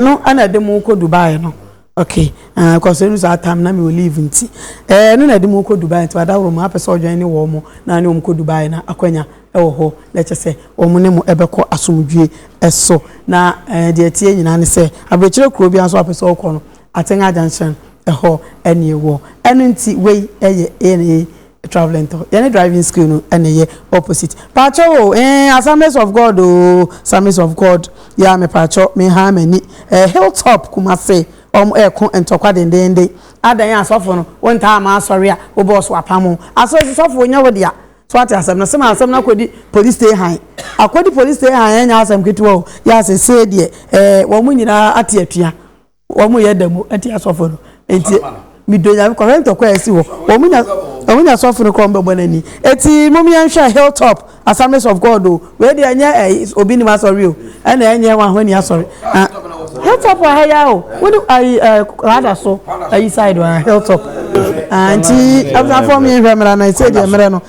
no ɛna ɛde mo kɔ dubai no okay ɛɛ eh, kɔsɛ ɛnu saa tam na mi wɔ leave nti ɛɛ eh, ɛno na ɛde mo kɔ dubai nti wada wɔn apɛ sɛ ɔdwan ne wɔn mo na ne wɔn kɔ dubai na akwanya ɛwɔ hɔ na ɛkyɛ sɛ wɔn ne mo ɛbɛkɔ asomdwie ɛso na ɛɛ eh, deɛ tie nyinaa ne sɛ abirikyerɛ kuro bi nso apɛ sɛ ɔkɔ no atenga junction ɛhɔ ɛne ɛwɔ ɛno nti wei ɛyɛ ɛna Travelling tɔ yɛne driving skill no na ɛyɛ opposite paakyɛw o eeh Assemblies of God o Assemblies of God yeah me paakyɛw me haa m'ani eh Hill top Kumasi wɔn ɛko ntɔkwa dendenden adɛn asɔfo no wo ntaa ma asɔre a wo boss wapam wo asɔre so sɔfo nyɛ wo dea so wate asɛm no sema asɛm no akɔdi police stay han akɔdi police stay han ɛnyɛ asɛm ketewa o yeah sesei deɛ eh wɔn nyinaa ate atua. Wɔn yɛ dɛm ɛnti asɔfo no ɛnti mi dɔ nyame kɔhwɛ ntɔkwa a ɛsi hɔ wɔn nya wɔn nya asɔfo no kɔ wɔn bɛ bɔ n'ani ɛti mo mi yɛn hwɛ hill top assemblies of god o wei deɛ ɛnyɛ ɛ eh, obi nim asɔre o ɛna ɛnyɛ wɔn ahɔn ni asɔre ah hill top wɔ ha ya o wɔn ayi ɛ kwada so ayi side wɔn hill top ah nti afɔnfɔn mi hwɛ mìíràn na ɛsɛ deɛ mìíràn no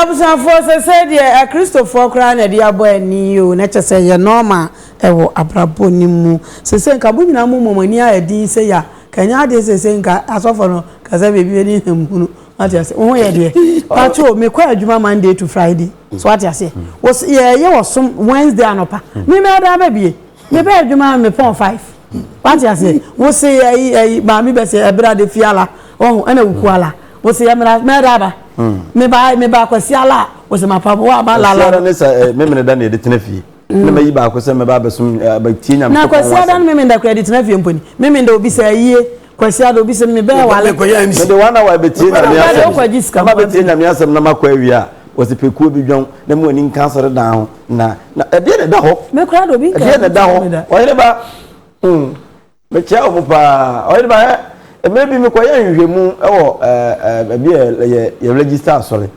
Abusuafoɔ sɛsɛɛ deɛ akristofoɔ koraa na ɛde abɔ ani o na kyɛ sɛ yɛ nɔɔma ɛwɔ abrabɔ no mu sɛsɛɛ nka mo nyinaa mo mɔmɔ ani ayɛ din sɛ ya ka nyɛ adeɛ sɛsɛɛ nka asɔfoɔ no ka sɛ baabi bɛ ne hɛm hunu wate aseɛ wo ho yɛ deɛ pato me kɔ adwuma Monday to Friday so wate aseɛ yɛ yɛ wɔ som Wednesday anɔpa me mɛ adan bɛ bie Me bɛ adwuma me pɔn five. Wate aseɛ wo se ɛyi ɛyi maame bɛ se ɛbra de fi ala ɔho ɛna wuku ala wo se ɛmira mɛda aba me ba me ba kwasi ala wo se ma pa wa ma la la. ne sa eh, me mene da ne de tena fie mm. na mayi baako sɛ mɛba abɛsom eh, abɛtie nyame na kwasi ada no me mene da kura de tena fie mponi me mene da obi sɛ ayie Kwasi Ado bi sɛ mebɛyɛ wale. Mekɔyɛ MC. Mede one hour bɛtie Mekɔyɛ nyame wale, wokɔ agye asɛm. sika Na ma mama bɛtie bi. nyame asɛm na makɔ awie a, wɔse pɛkuo bi dwan na mu ani nka asɔredan ho na na ɛdeɛ na ɛda hɔ? Me koraa de obi nka Ɛdeɛ na ɛda ɛho hɔ? me da. Ɔhene ba, hmm, mekyia wo mo paa. Ɔhene ba, ɛ, mmerɛ bi mekɔyɛ nhwehwɛmu wɔ ɛ, ɛ, baabi a yɛ, yɛ register asɔre.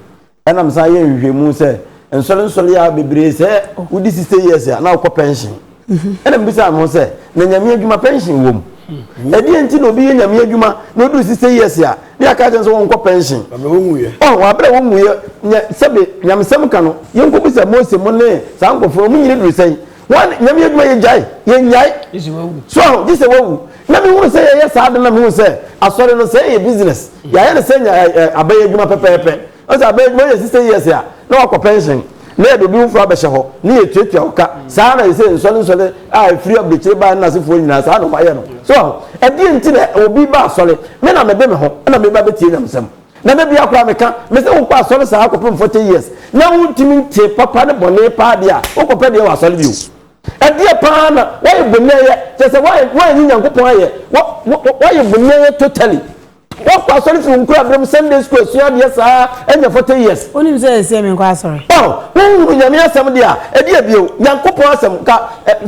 Ɛna me san yɛ nhwehwɛmu sɛ nsɔre nsɔre yɛ a bebree sɛ wodi sixty years a na wokɔ pension. Mhm. Ɛna mbisa me ho sɛ na nyame adwuma pension wom. Mhm. Ɛdeɛ nti na obi yɛ nyame adwuma na odu sixty years a ne yɛ aka kyɛn sɛ wɔn kɔ pension. Ɔn wɔn abira wɔn mu yɛ nyɛ sɛbi nyamesɛm ka no yɛn kɔ bisa Mose mo ne saa nkɔfoɔ wɔn nyina duru sɛn. Wɔn nyame adwuma yɛ gyae yɛ nyae. So aho gye sɛ wawu. Na me hunu sɛ yɛ yɛ saa de na me hunu sɛ asɔre no sɛ yɛ business. Yɛ ayɛ no sɛ nya ɛ ɛ abɛyɛ adwuma pɛpɛɛpɛ. Wɔn sɛ abɛyɛ adwuma yɛ sista years a na wakɔ pension. Na yɛ de obi foforɔ abɛhyɛ hɔ na yɛ tuatua wo ka. Saa na yɛ sɛ nsɔre nsɔre a ɛfiri abirikyire baa ne nasefoɔ nyinaa saa na wɔn ayɛ no. So aho. Ɛdeɛ nti na obi ba asɔre. Me na me de me ho na me ba bɛtie nyamesɛm. Na da biara koraa meka, mese wokɔ asɔre saa kɔpem 40 years na wontumi ntee papa ne bɔne paa deɛ a, wokɔpɛ deɛ wɔ asɔre bio. Ɛdeɛ paa na woayɛ bonɛɛyɛ, kyerɛ sɛ woannye Nyankopɔn ayɛ, woayɛ bonɛɛyɛ totally. Woakɔ asɔre firi wo nkorabere mu, Sunday school asua adeɛ saa anya 40 years. Wonim sɛ seesei menkɔ asɔre. Oh, wonhunu Nyame asɛm deɛ a, ɛdeɛ bio, Nyankopɔn asɛm, nka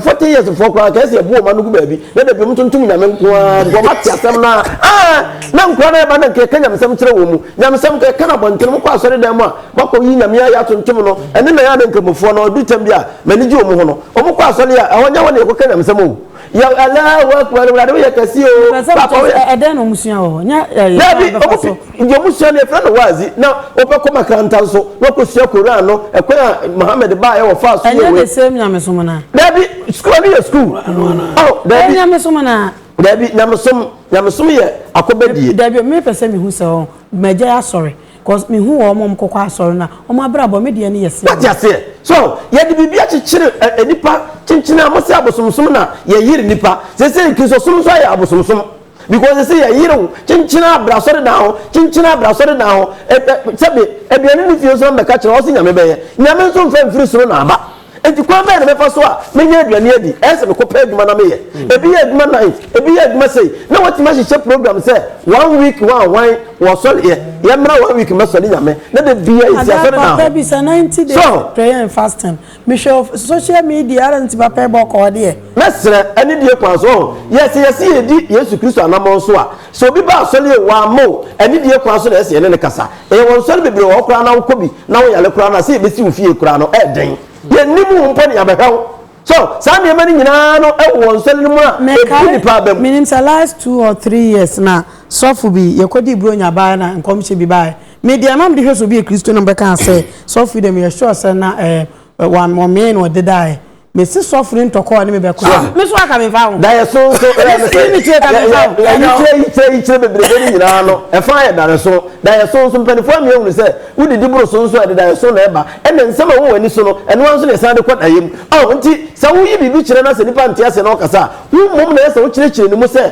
40 years foɔ koraa nka ɛsɛ yɛbo wɔn ano gu baabi. na da bi wɔn ntontom nyame nko ara because wɔn ate asɛm no a ah na nkura no ɛba na nka yɛka nyamesɛm kyerɛ wɔn mu nyamesɛm nka yɛka no abɔnten mo kɔ asɔre dan mu a moakɔ yi nyame ayɛ atontom no ɛne na yɛ a na nkramofoɔ no ɔdu tam bi a m'ani gye wɔn ho no wɔn kɔ asɔre a ɛhɔ nyɛ hɔ na yɛkɔka nyamesɛm o yɛ ɛlɛ wɔ akura no wulade woyɛ kɛse o papa woyɛ ɛdɛn na wɔn sua wɔ hɔ nyɛ ɛyɛ dabi wɔn Ndeɛ ɔmo sua no yɛfrɛ no waazi na ɔpɛ kɔ makaranta nso na ɔkɔ sua koran no ɛkwan a Muhammad baa yɛ ɔfaa so yɛ wei. Ɛnyɛ the same nyamesom no a. Daabi school ɛno yɛ school oh daabi. Ɛyɛ nyamesom no a. Daabi nyamesom nyamesom yɛ akɔbɛdie. Daabi me pɛ sɛ me hu sɛ ɔn magyae asɔre cause me hu wɔ ɔmo a ɔmo kɔkɔ asɔre no a ɔmo abrabɔ me deɛ no yɛ same. Wate aseɛ so yɛde biribi akyekyere ɛ nipa kyenkyen a mo sɛ abosomsom na yɛyere nipa seisei kristosom nso ayɛ abosomsom. Because sisi yɛ yere wo kyenkyena bra asɔredan hɔ kyenkyena bra asɔredan hɔ ɛ ɛ sɛbi aduane ne fie nso na mɛka kyerɛ ɔsi nyame bɛyɛ nyame nso nfa mfiri soro na aba nti kwan bɛyɛ na mɛfa so a menya aduane adi ɛyɛ sɛ mekɔ pɛ adwuma na meyɛ ebi yɛ adwuma night ebi yɛ adwuma sei na watumi ahyehyɛ program sɛ one week wɔn a wɔn wɔ sɔre yɛ yɛmmra one week mɛsɔre nyame na de bia yɛ si asɔredan hɔ so. Mehwɛ wo social media ara nti papa yɛ bɔkɔ hɔ deɛ. Mɛsrɛ anidie kwan so ɔho yɛ sɛ yɛse yɛdi Yesu Kristo anamɔn so a sɛ obi ba asɔre yie wamma o anidie kwan so na ɛsɛ yɛne no kasa yɛwɔ nsɔre bebree wɔ hɔ koraa na wokɔ bi na wo yare koraa no a sɛ yɛbɛsi wo fie koraa no ɛɛden yɛnnim wo mpo na yɛabɛhwɛ wo so saa nneɛma no nyinaa no wɔ nsɔre no mu a ɛbu nipa aba mu. Menim sɛ last two or three years na sɔfo bi yɛkɔdii Buronya baeɛ na nkɔmhyɛ bi baeɛ. Me deɛ na mede hwɛ sɛ obi yɛ Kristoni na mobɛka sɛ sɔfo yi deɛ meyɛ sure sɛ na eh, wɔn wɔmee na ɔde daeɛ. Mese sɔfo no ntɔkɔ a ne me bɛkɔ. Ah. Me so aka me mfa ho. Daeɛ so so ɛyɛ me sɛ. Me kyerɛ ka me mfa ho. Yikyerɛ yikyerɛ yikyerɛ bebrebe no nyinaa no ɛfa yɛ daeɛ so. Daeɛ so nso mpanimfoɔ amia hunu sɛ wodidi boro so nso ɛde daeɛ so na ɛba. Ɛna nsɛm a ɛwɔ wɔn ani so no ɛno ara nso na ɛsan de kɔ daeɛ mu. Oh nti sɛ woyi biribi kyerɛ na sɛ nipa nte ase na ɔkasa a wo mmom na ɛyɛ sɛ wokyerɛkyerɛ ne mu sɛ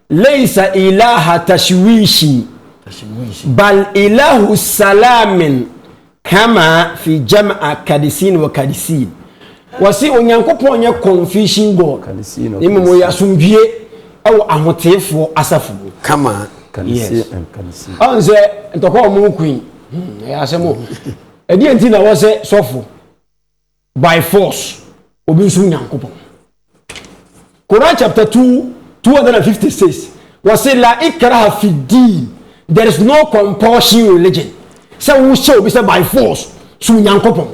Laysa ilaha tashwishi bal ilahu salamin kama fi jam'a kadisin wa kadisin. Wɔse Onyankopɔn nyɛ confusion God, na mmom ɔyɛ asomdwie wɔ ahoteefoɔ asafo mu. Kama Yes. Ɔn sɛ ntɔkwa ɔmo nko yi. Hmm, ɛyɛ asɛm o. Ɛdeɛ nti na wɔ sɛ sɔfo. by force obi nso nyankopɔn Quran chapter 2 256 wɔse la ikraha fi deen there is no compulsion religion sɛ wohyɛ obi sɛ by force so nyankopɔn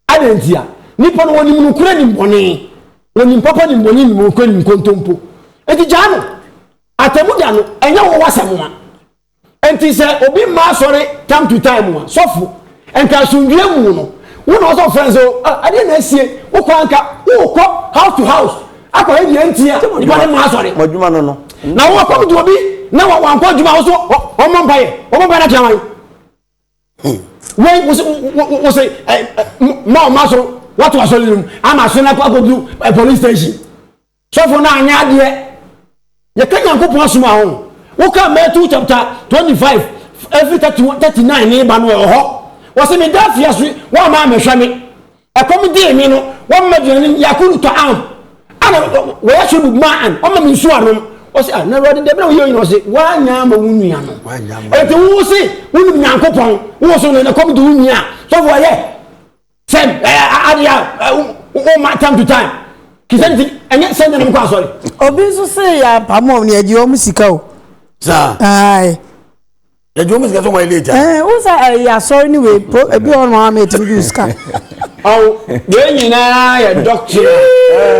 adɛn ntia nipa no wɔnim nokora nim bɔne wɔnim papa nim bɔne nim nokora nim nkontompo ɛti gyaa no atamu da no ɛnyɛ wɔwɔ asɛm a Enti sɛ obi mma asɔre time to time a, sɔfo, nka asomdwoe mu no, wo na ɔsɛ ɔfrɛ no sɛ, O, ah, ɛdeɛn na asie? Wokɔ a nka worekɔ house to house akɔhwɛ deɛ enti a nnipa no mma asɔre. Mo adwuma no no. Na wo akɔm de obi na wankɔ adwuma a, wo so ɔmmɔ mpaeɛ? Ɔbɔ mpaeɛ no akyerɛ wan? Hmm. Wei, wo se, wo se, eh, eh, ma ɔma so, wato asɔre no mu, ama asɔre no akɔ akɔduru eh, police station. Sɔfo no anyɛ adeɛ. Yɛka Nyankopɔn asɛm a ho. Woka Matthew chapter twenty five ɛfiri thirty one thirty nine ne ba no ɛwɔ hɔ. Wɔsi meda afiase wɔamma ammɛhwɛ me. Ɛkɔm dee me no wɔamma aduane yakulu ta'am ana wɔyashribu ma'an wɔamma me nsuo anom. Wɔsi ah na Awurade deɛ bɛn na woyɛ nyina wɔsi woanya ama wo nua no. Eti wo se wonim Nyankopɔn wo so no na ɛkɔm de wo nua a sɔfo ayɛ sɛm adeɛ a woma time to time kisɛ nti ɛnyɛ sɛ nyanam kɔ asɔre obi nso se yɛ apamo ɔm ne yɛgye ɔm sika o saa ae yɛgye ɔm sika sɛ wɔn late ɛɛ wo sɛ ɛyɛ asɔre ne wei po ebi ɔn ma ma ɛtumi gye sika ɔn deɛ nyinaa yɛ dɔktere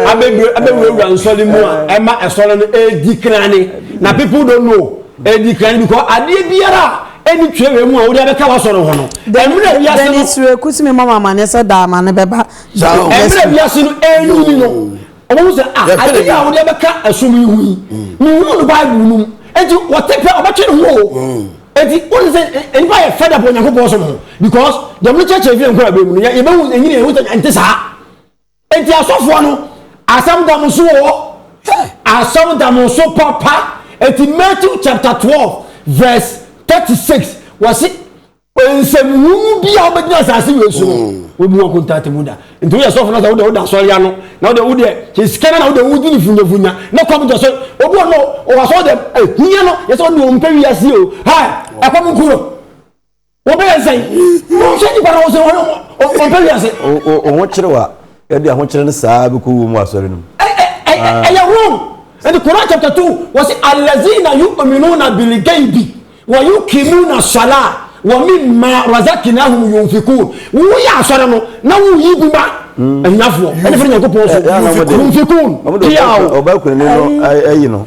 abɛwurawura nsɔre mu a ɛma ɛsɔre no ɛdi krane na people don't know ɛdi krane because adeɛ biara ɛne twerɛ wei mu a wode abɛka wasɔre ho no ɛmmerɛ wiase no Dennis Reku tumi mɔ mamane sɛ daa ma ne bɛba ɛmmerɛ wiase no ɛnu ni no ɔmo sɛ ah ade yi a wode abɛka ɛsom yi ho yi mehunu no bible no mu enti wɔte pɛ ɔbɛtwe ne ho o enti wone sɛ nipa yɛ fɛda bɔ onyankopɔn som ho because deɛ mo kyɛkyɛ fie nkɔ abɛ mu no yɛbɛhu ɛnyini ɛho sɛ ɛnte saa Enti asɔfoɔ no asɛm da mo so wɔ hɔ? Hey! Asɛm da mo so papa. Enti Matthew chapter twelve verse thirty six wɔsi nsɛmhunu bi a wobɛgyina asase wei so no hmm. wɔbu wɔn kontate mu da. Nti woyɛ sɔfo na sɛ wode woda asɔre ano na wode wodeɛ sɛ sika no na wode wodi ne funyafunya na kɔm gyɛ so obi wɔ no ɔwɔ asɔre dɛm ɛhia no yɛ sɛ ɔne ɔmpɛ wiase o ha ɛkɔm nko no Wɔbɛyɛ nsɛn. Wɔn sɛ nipa na wɔn sɛ wɔn wɔn pɛ wiase. Wɔn kyerɛ wa yɛde ahokyerɛ no saa bi kɔ wɔ mu asɔre no mu. Ɛyɛ wrong. Ɛdi Quran chapter two wɔsi alazina yu ominu na bili gaibi wɔ yu kimu na sɔla wɔ mi ma razaki na ahum yun fi kun. Wuyɛ asɔre no na wuyi gu ma ɛnyafoɔ ɛni fɛn nyanko pɔn so yun fi kun. Ɔbɛ kun ni no ɛyi no.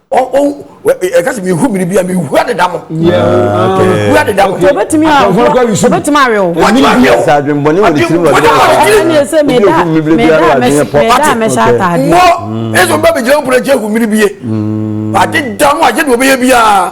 ɛka sɛ mehu biribi a mehu adeda mo mehu adeda mo obɛtumi awe wo sɛ adwenbɔne wɔ ne tirim ɛne sɛ meda mɛhyɛ atade mmɔ ɛsɛ ɔba bɛgyina wo pona kyɛ hu mmere bie adeda mo agye ne wɔbɛyɛ biaa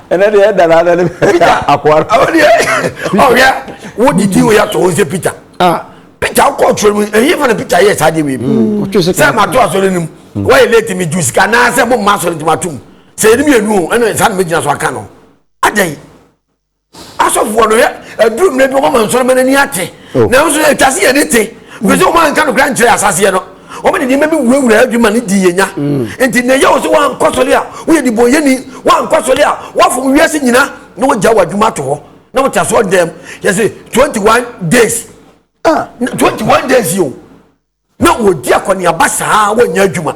ɛnɛ deɛ ɛda na ɛnɛ peter akoa awo deɛ ɔhwɛ wo didi wo yɛtɔ wo sɛ peter ah. peter wokɔ ɔtwerɛ mu ɛyi fa na peter yɛ saa deɛ wei mu mm, sɛ mato asɔre no mu mm. wɔyɛ late me ju sika naa sɛ momma asɔre nti matom sɛ yɛne mmienu o ɛne saa na mɛgyina so aka no adɛn asɔfoɔ no yɛ aduru mmerɛ bi wɔma nsɔre ma n'ani ate oh. nanso ɛtwa se yɛde te firi sɛ wɔn anka nokora nkyerɛ asaseɛ no wɔn de nneɛma bi wurawura adwuma no di yɛn nya mm. nti na ɛyɛ wɔ so wɔn ankɔ sɔre a wɔyɛ de bɔ yɛni wɔn ankɔ sɔre a wɔafom wiase nyina na wɔgya wɔ adwuma to hɔ na wɔte aso dɛm yɛsɛ twenty one days ah twenty one days yi o. na wɔdi akɔneaba saa ara wɔnyɛ adwuma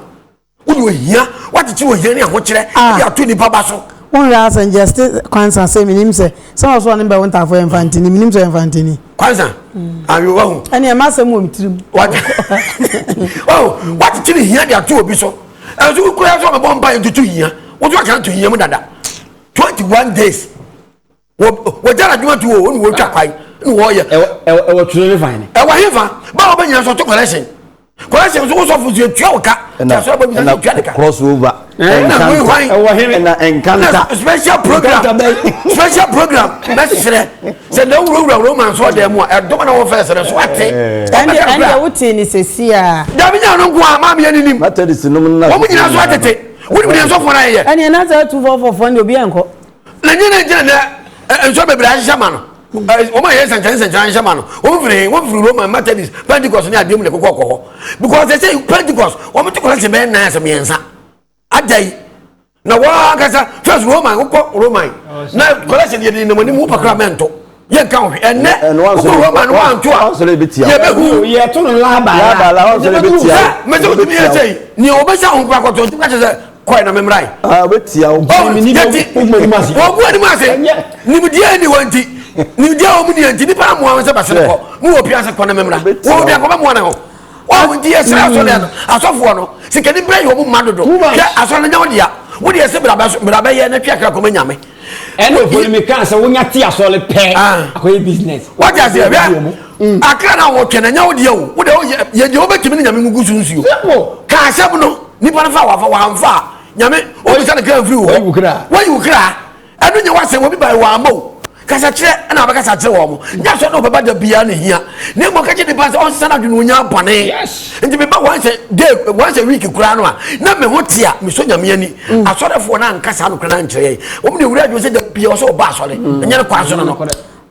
wone ohia woakyekyere ohia ne ahokyerɛ ah. de ato nnipa ba so wonhwɛ asɛ njɛste kwansa sɛ menim sɛ sɛ wɔ so ɔne bɛ wo ntafo yɛ mfantini menim sɛ yɛ mfantini kwansa mm. awewa ho ɛne ɛma asɛm wɔ metirim woakyekyere hia de ato obi so ɛnso wokura sɛ ɔbɛbɔ mpa yɛ ntoto hia woso akra to hia mu dada 21 days wɔgyara adwuma to o ne wɔtwa kwae ne wɔyɛ ɛwɔ turo ne fan ɛwɔ he fa ba wɔ bɛnyina so to collection collection nso wosɔfo nso ɛtua wo ka tiasɛ bɔ nyina tua ne ka cross over ɛna nkanta special program special program bɛserɛ sɛ na wurawura roman so ɔdɛ mu a ɛdɔm na wɔfɛ srɛ so ate ɛndeɛ wotee ne sɛsi a dabi nya no nko a maameɛ ne nim wɔm nyina so atete wonim deɛ nsɔfoɔ no ayɛ ɛneɛ na sɛ atufɔfɔfoɔ ne obi ankɔ na nyɛ na nkyɛn na nsɔ bebree ahyehyɛ ma no wɔn a yɛ nsɛnkyerɛ nsɛnkyerɛ ahyehyɛ ma no wɔn firi hin wɔn firi roman methodist pentecost ne adeɛ mu na ɛkokɔ kɔ hɔ because they say pentecost wɔn te kɔlɛkye bɛyɛ nan asɛ mmiɛnsa agya yi na wɔn ankasa first roman wokɔ roman na kɔlɛkye deɛ de nam anim wopakora mɛnto. yɛ nka ohwɛ ɛnɛ wokɔ roma no wanto a yɛbɛhu yɛto no laabala mɛsɛ wotumi yɛ sɛ nea wɔbɛhyɛ ho kora kɔtɔ nti kakyɛ sɛ kɔɛ na memrae wɔbu anim ase nimdeɛ ni wɔ nti nimdeɛ wɔ mu deɛ nti nipa amoa ho sɛ bɛsene kɔ ne wɔ pia sɛ kɔ na memra wɔwɔ biakɔ bɛmoa ne ho wɔn nti yɛ srɛ asɔre ano asɔfoɔ no sikani bɛn yɛ wɔn mma dodo hwɛ asɔre no nyɛ wɔn dea wɔn deɛ sɛ bra bɛ yɛ na twi akra kɔma nyame. ɛna ofori mi kan sɛ wonya ti asɔre pɛ akɔyɛ business. wọ́n ti ase hwɛ akra na wọ́n twɛ na nyɛ wɔn deɛ o wọ́n deɛ yɛ deɛ wọ́n bɛ tìmí ni nyame mu gu sunsun o kaa sɛm no nipa no fa wà fa wà nfa nyame wọ́n bisa ne kira nfiri wɔ wọ́n yi wò kira. ɛno nyɛ w'asɛm obi bae wɔammɔ wo kasa kyerɛ ɛna abɛkasa kyerɛ wɔn mo nyɛ sɛ na ɔbɛba da biara na hia na mmɔ kɛkyɛ nipa sɛ ɔnsesa no adwene onya bɔne nti meba once a day once a week koraa no a na me ho te a mesɔ nyame ani mm. asɔrefoɔ no ankasa no koraa no ankyerɛ yɛn wɔm ne wura adwene sɛ da biara ɔsɛ ɔba asɔre mm. ɛnyɛ no kwan so no no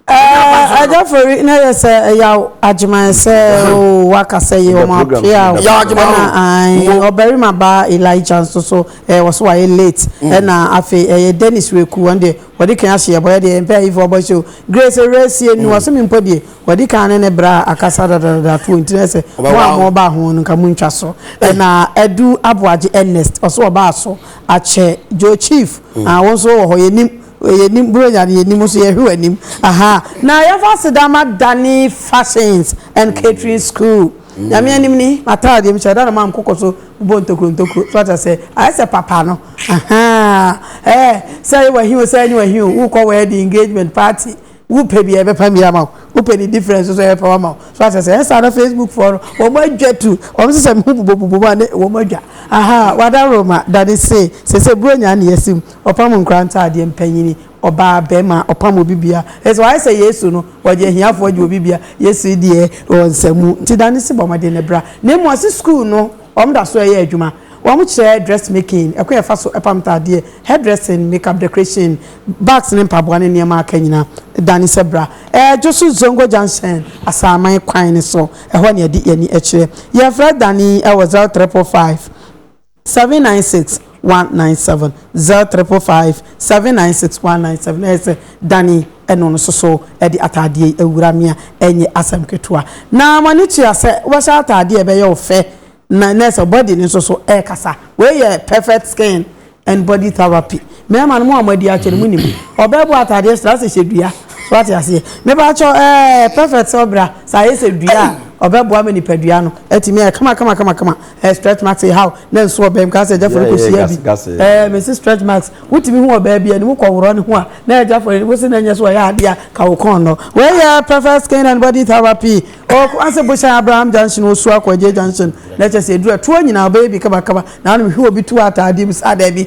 Eh, Ajafori na yɛ sɛ ɛyaw agyeman sɛ o waka sɛ yɛ wɔn apea o. Yaw agyeman o. Ɛna ɔbarima baa Elijah nso so ɛɛ wɔso wayɛ late. Ɛna afei ɛyɛ Dennis Weku wɔn deɛ wɔde kan ahyɛ yɛ bɔ yɛ deɛ mpɛ ayifo ɔbɔ hyɛ o. Grace Ewurasie ni wɔso mi mpo deɛ wɔde kan ne ne bra akasa dadadada to nti na ɛsɛ mo a mo ba ho no nka mo ntwa so. Ɛna Adu Aboagye Ernest ɔso ɔbaa so akyɛ Joe Chief ah wɔn nso wɔ hɔ yɛ nim. Yɛnim bere nya no yɛnim nso yɛhwɛ w'anim ahaa na yɛmfa aseda ma Danny fashions and catering school Nyame anim ni m'ataade deɛ mehyɛ da na manko kɔ so bobɔ ntokuro ntokuro so ata sɛ ayɛ sɛ papa no ahaa ɛɛ sɛ yɛ w'ahi o sɛ ɛnyɛ w'ahi o wokɔ wedding engagement party Wo pɛ bia yɛbɛpam bi ama wo, wo pɛ ne difference nso yɛbɛpam ama wo. So ate aseɛ? Ɛyɛ saa na Facebook foɔ no wɔn adwa tu, wɔn sesɛ me ho bobobobom a ne wɔn adwa. Ahaa Wadaroma da ne se, sese Buronya ne yɛasi mu, ɔpam nkora ntaadeɛ, mpanyini, ɔbaa, bɛɛma, ɔpam obi bia. Ɛyɛ sɛ wayɛ sɛ Yesu no, wɔgye ahiafoɔ gye obi bia, Yesu deɛ ɔnsa mu. Nti da ne se bɔ mmɔden na bra. Na mmom ɔse school no. Wɔda so yɛ adwuma. Wɔkyerɛ dressmaking, ɛkwan a yɛfa so pam ntaadeɛ, hairdressing, makeup decoration, bags ne mpaboa ne nneɛma a aka nyinaa. Dane sɛ bra. Ɛredwo so Zongo Junction, Asaman kwan no so. Ɛhɔ na yɛde yɛn ani kyerɛ. Yɛfrɛ Dane wɔ 0345 796 one nine seven zero triple five seven nine six one nine seven ɛyɛ sɛ Danny ɛno no soso ɛde ataadeɛ yi awura me a ɛnyɛ asɛm ketewa na ma ne tua sɛ wobɛhyɛ ataadeɛ a ɛbɛyɛ wo fɛ na na ɛsɛ body no nso so ɛkasa wei yɛ perfect skin and body therapy mmarima no mo a mo adi akyɛ no mo nim ɔbɛɛbo ataadeɛ sra sɛ hyɛ dua so ate aseɛ meba akyɛ ɛɛ perfect sɛ ɔbra saa yɛ sɛ dua a ɔbɛboa ma nipadua no atumi ayɛ kama kama kama kama Eh stretch marks eh how na nso ɔbɛn ka sɛ ɛgyafo no kɔ si abi eh mesi stretch marks wotumi hu ɔbaa bi anim kɔworɔ ne ho a na ɛgyafo no wosi na nyɛ so ɔyɛ adeɛ a ka wo kɔn no wɔyɛ perfect skin and body therapy ɔkɔ ase bohyɛn abraham junction osu akɔ agye junction na ɛkyɛ sɛ ɛduru ɛtoɔ nyinaa ɔbɛyɛ bi kabakaba na anom hwɛ obi tu ataadeɛ bi saa daabi